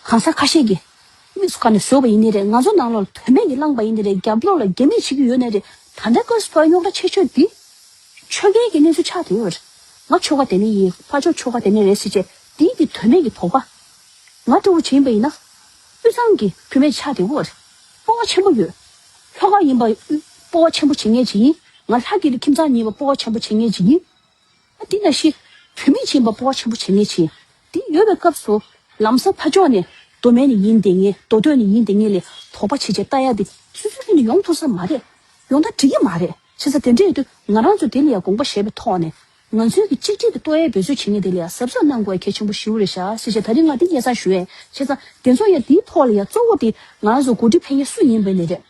གང་ཟག་ཁ་ཤས་ཀྱིས། དམིགས་སུ་བཀར་ནས་བཟོས་པ་ཡིན་ནི་རེད་ང་ཚོ་ནང་ལོག་ལ་དོན་མེད་ཀྱི་བསླངས་པ་ཡིན་ནི་རེད་རྒྱབ་ལོག་ལ་རྒྱ་མིས་བྱེད་ཀྱི་ཡོད་ནི་རེད་ད་ལྟའི་བཀའ་ཟུར་བར་གཡོག་འདྲ་ཆེ་ཆོས་འདི། ཆོལ་ཁའི་གྱི་གནས་ཚུལ་ཆགས་དེའི་བར། ང་ཆོལ་ཁ་དེ་ནས་ཡིན་ཕ་ཆོག་ཆོལ་ཁ་དེ་ནས་རེད་ཟེར་བྱས་དེའི་གྱི་དོན་མེད་ཀྱི་དོགས་པ། ང་སྤྲོ་བོ་ཆེ་ཡིན་པ་ཡིན་ན། དབུས་གཙང་གྱི་བུད་མེད་ཆགས་དེའི་བར། སྤོ་བ་ཆེན་པོ་ཡོད། ལྷོ་ཁ་ཡིན་པ། སྤོ་བ་ཆེན་པོ་བྱེད་ངེས་ཅི་ཡིན། ང་ལྷ་སྐྱིད་ཀྱི་ཁྱིམ་ཚང་གཉིས་པ་སྤོ་བ་ཆེན་པོ་བྱེད་ངེས་ཅི་ཡིན། འདི་ན་ཤི། བུད་མེད་བྱིན་པ་སྤོ་བ་ཆེན་པོ་བྱེད་ངེས་བྱིན། འདི་ཡོལ་བའི་སྐབས་སུ། ལམ་སྲང་ཕ་ཅོག་ནས། མདོ་མེད་ནི་ཡིན་དེ་ངེས་མདོ་སྟོད་ནི་ཡིན་དེ་ངེས་ལས་དོགས་པ་བྱེད་ཅེས་བལྟ་ཡ་དེ་སུས་སུས་ཀྱིས་ནི་ཡོང་ཐུབ་ས་མ་རེད། ཡོང་ཐག་འགྲིག་གི་མ་རེད་བྱེད་ས་དེ་འདྲས་དུས་ང་རང་ཚོས་དེ་ལ་ཡང་དགོངས་པ་བཞེས་པའི་ཐོག་ནས། ང་ཚོའི་གི་གཅིག་སྒྲིལ་གྱི་ལྟོ་ཡའི་འབོད་ཚུལ་བྱེད་ངེས་དེ་ལ་ཡང་གཟབ་གཟབ་གནང་དགོས་པ་གལ་ཆེན་པོ་ཞིའུ་རེད་ཤག་སེ་བྱས་ད་རིང་ང་དེ་ངེས་ཚང་ཞུ་ཡས་བྱས་ཙང་དེ་ཚོ་ཡང་དེའི་ཐོག་ལ་ཡང་གཙོ་བོ་དེ་ང་རང་ཚོ་མགོ་ཁྲིད་ཕན་ཡས་སུ་ཡིན་པའི་ནས་རེད།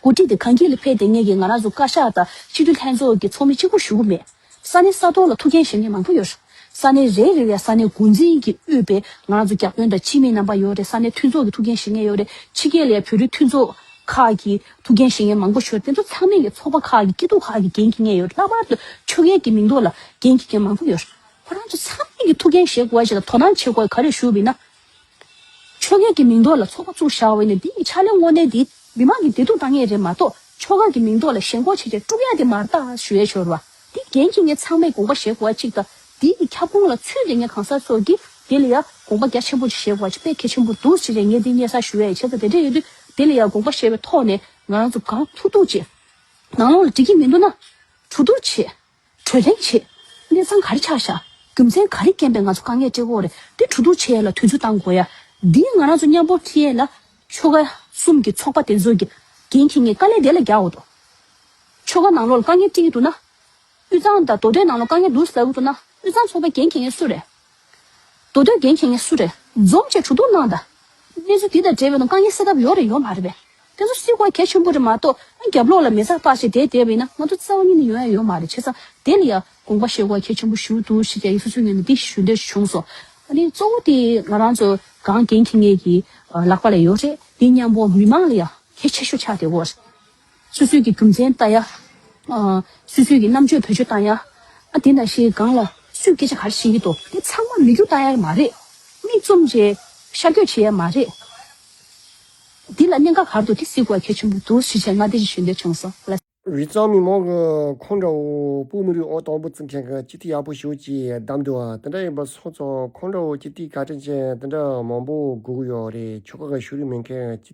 འགོ་ཁྲིད་དེ་གངས་སྐྱིད་ལ་ཕེབས་ཏེ་ངེད་ཀྱིས་ང་རང་ཚོ་བཀའ་ཤག་དང་སྤྱི་འཐུས་ལྷན་ཚོགས་ཀྱི་ཚོགས་མི་གཅིག་པུར་ཞུགས་ཀྱི་མེད། ས་གནས་ས་ཐོག་ལ་ཐུགས་འགན་བཞེས་མཁན་མང་པོ་ཡོད། ས་གནས་རེ་རེ་བའི་ས་གནས་འགོ་འཛིན་གྱི་དབུས་པས་ང་རང་ཚོ་རྒྱབ་སྐྱོར་དང་སྤྱི་མི་རྣམ་པ་ཡོད་རེ་ས་གནས་མཐུན་ཚོགས་ཀྱི་ཐུགས་འགན་བཞེས་མཁན་ཡོད་རེ་ཕྱི་རྒྱལ་ལས་བོད་རིགས་མཐུན་ཚོགས་ཁག་གི་ཐུགས་འགན་བཞེས་མཁན་མང་པོ་ཞོལ་དེ་ཚོ་ཚང་མས་ཀྱི་ཚོགས་པ་ཁག་གི་སྐྱིད་སྡུག་ཁག་གི་འགན་འཁྱེར་མཁན་ཡོད་ལྷག་པར་དུ་ཆོས་རྒྱལ་གྱི་མིང་འདོགས་ལ་འགན་འཁྱེར་མཁན་མང་པོ་ཡོད། ཁོ་རང་ཚོ་ཚང་མས་ཀྱི་ཐུགས་འགན་བཞེས་དགོས་པ་ཞིག་དང་དོ་སྣང་བྱེད་དགོས་པ་ག་རེ་ཞུ་བས་ན་ཆོ་ག་གི་མིང་འདོགས་ལ་ཚོགས་པ་བཙུགས་བཞག་འོས་ནས་འདི་ཡི་ཕྱག་ལེན་དངོས་གནས་འདི་མི་དམངས་ཀྱི་བདེ་སྡུག་ལྟ་ངེས་རེད་མ་གཏོགས་ཆོ་ག་གི་མིང་འདོགས་ལ་ཞེན་ཁོག་བྱེད་ཀྱང་ཀྲུག་ཡ་དེ་མར་ལྟ་ཞུ་ཡ་ཤོར་བ་འདི་རྒན་གྱི་ངས་ཚང་མས་དགོངས་པ་བཞེས་དགོས་བ་གཅིག་དང་འདི་ཡི་ཁྱབ་ཁོངས་ལ་ཚུད་དེ་ངས་གང་ཟག་སོགས་ཀྱིས་དེ་ལ་ཡང་དགོངས་པ་རྒྱ་ཆེན་པོ་ཅིག་བཞེས་དགོས་བ་ཅིག་དཔེ་གལ་ཆེན་པོ་འདུག་ཅེས་རེད་ངས་འདི་གཉེར་ས་ཞུ་ཡ་ཡི་བྱེད་ས་དེ་འདྲ་ཡོད་དུས་དེ་ལ་ཡང་དགོངས་པ་བཞེས་བའི་ཐོག་ནས་ང་རང་ཚོ་གང་ཐུག་ཐུག་ཅིག་ནང་ལོག་ལ་འགྲིག་གི་མི་འདུག་ན་དྲུག་དུར་བྱེད། གྲོས་གླེང་བྱེད། གནས་ཚང་ག་རེ་ཆགས་བཞག་རྒྱུ་མཚན་ག་རེ་རྐྱེན་པས་ང་ཚོ་དཀའ་ངལ་སྤྲད་འོག་རེད་དེ་གྲོས་བསྡུར་བྱེད་ཡ་ལ་དུས་ཚོད་གཏང་དགོས་ཡ། འདིའི་ང་རང་ཚོ་མཉམ་པོར་ཁྲིད་ཡས་ལ། ཆོལ་ཁ་གསུམ་གྱི་ཚོགས་པ་དེ་ཚོ་གི་འགན་འཁྱེར་ངས་དཀའ་ལས་དེ་ལ་རྒྱག་འོ་དོ། ཆོལ་ཁ་ནང་ལོག་ལ་དཀའ་ངལ་སྤྲད་ཀྱི་འདུག་ན། དབུས་གཙང་དང་མདོ་སྟོད་ནང་ལོག་དཀའ་ངལ་འདུག་ཟ་གི་འདུག་ན་དབུས་གཙང་ཚོགས་པའི་འགན་འཁྱེར་ངས་སུ་རེད། མདོ་སྟོད་རྒན་ཁྱེད་ངས་སུ་རེད་འཛོམས་བཅས་དྲུག་དུག་སྣང་ད། གནས་ཚུལ་འདི་དང་འབྲེལ་བའི་ནང་དཀའ་ངལ་སེལ་ཐབས་ཡོག་རེད་ཡོག་མ་རེད་པས། དེ་ཚོ་སྲིད་དབང་གལ་ཆེན་པོ་རེད་མ་གཏོགས་ཨ་རྒྱབ་ལོགས་ལ་མེ་ཚ་སྤགས་བྱས་དེ་བསྡད་པ་ཡིན་ན་ང་ཚོ་རྩ་བ་ཉིད་ནས་ཡོང་ཡ་ཡོག་མ་རེད་བྱས་ཙང་དེ་ལ་ཡ་དགོངས་པ་བཞེས་དགོས་གལ་ཆེན་པོ་ཞུ་འདུག་ཞེས་རྒྱ་ཡིག་སོ་སོའི་ངོས་ནས་འདི་ཞུ་འདོད་བྱུང་སོང། ཨ་ནི་གཙོ་བོ་དེ་ང་རང་ཚོ་གངས་རྒན་ཁྱེད་ངས་ཀྱི་ལག་པ་ལ་ཡོག་རེད་འདི་མཉམ་པོ་མི་མང་ལ་ཡ་གལ་ཆེ་ཤོས་ཆགས་བསྡད་གོ་རེད། སུད་སུད་ཀྱི་གྲུབ་མཚན་ལྟ་ཡ། སུད་སུད་ཀྱི་རྣམ་དཔྱོད་བོད་ཆོས་ལྟ་ཡ། ཨ་དེ་འདྲ་ཞིག་སྒང་ལ་སུས་སྐད་ཆ་ག་རེ་བཤད་ཀྱི་འདུག་དེ་ཚང་མ་མི་རྒྱུགས་ལྟ་ཡ་མ་རེད། མིག་བཙུམ་རྗེས་ཤར་བསྐྱོད་བྱེད་ཡ་མ་རེད། འདི་ལ་གནད་འགག་ག་རེ་འདུག་དེ་གཟིགས་དགོས་གལ་ཆེན་པོ་འདུག་ཞེས་བྱས་ང་འདི་རིགས་ཞུ་འདོད་བྱུང་སོང། རི་གཙང་མི་མང་གི་ཁོང་འདྲ་བོ་པུ་མུ་རི་ཨོ་དང་པོ་བརྩི་མཁན་གྱི་སྤྱི་ཐིག་ཡག་པོ་ཞུ་ཅེས་གདམས་འདུག་དེ་འདྲ་ཡིན་པ་སོང་ཙང་ཁོང་འདྲ་བོ་སྤྱི་ཐིག་ག་དྲིན་ཅན་དེ་འདྲ་མང་པོ་སྒུག་ཡོད་རེད་ཆོལ་ཁ་ག་ཞུ་རིན་མེད་མཁན་གྱི་སྤྱི་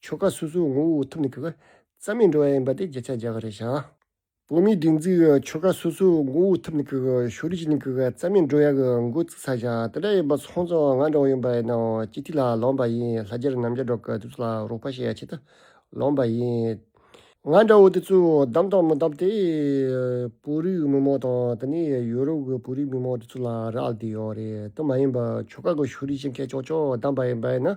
ཆོ་ག་སོ་སོའི་ངོ་བོ་ཐུབ་ནས་གི་གི་རྩ་མེད་འགྲོ་བ་ཡིན་པ་དེ་བརྒྱ་ཆ་བརྒྱ་ག་རེ་བྱ། བོད་མིའི་སྒྲིག་འཛུགས་ཀྱི་ཆོ་ག་སོ་སོའི་ངོ་བོ་ཐུབ་ནས་གི་གི་ཞོ་རུས་ཅི་ནས་གི་གི་རྩ་མེད་འགྲོ་ཡག་གི་མགོ་བཙུགས་ས་བྱ་དེ་འདྲ་ཡིན་པ་ཚོང་ཚོང་ང་འདྲ་བོ་ཡིན་པ་ཡིན་ནའོ་སྤྱི་ཐིག་ལ་ལོངས་པ་ཡིན་ལྷ་རྒྱལ་རྣམ་རྒྱལ་གྲོགས་ཀྱི་དུས་ཚོད་ལ་རོགས་པ་བྱེད་ཆེད་དུ་ལོངས་པ་ཡིན། ང་འདྲ་བོ་དེ་ཚོས་བདམས་དང་མི་བདམས་དེ་བོད་རིགས་མི་མང་དང་དེ་ནས་ཡོ་རོབ་ཀྱི་བོད་རིགས་མི་མང་དེ་ཚོ་ལ་རག་ལས་ཡོད་རེད་དེ་མ་ཡིན་པར་ཆོ་ག་གི་ཞོ་རུས་ཅི་མཁས་ཅོག་ཅོག་བདམས་པ་ཡིན་པ་ཡིན་ན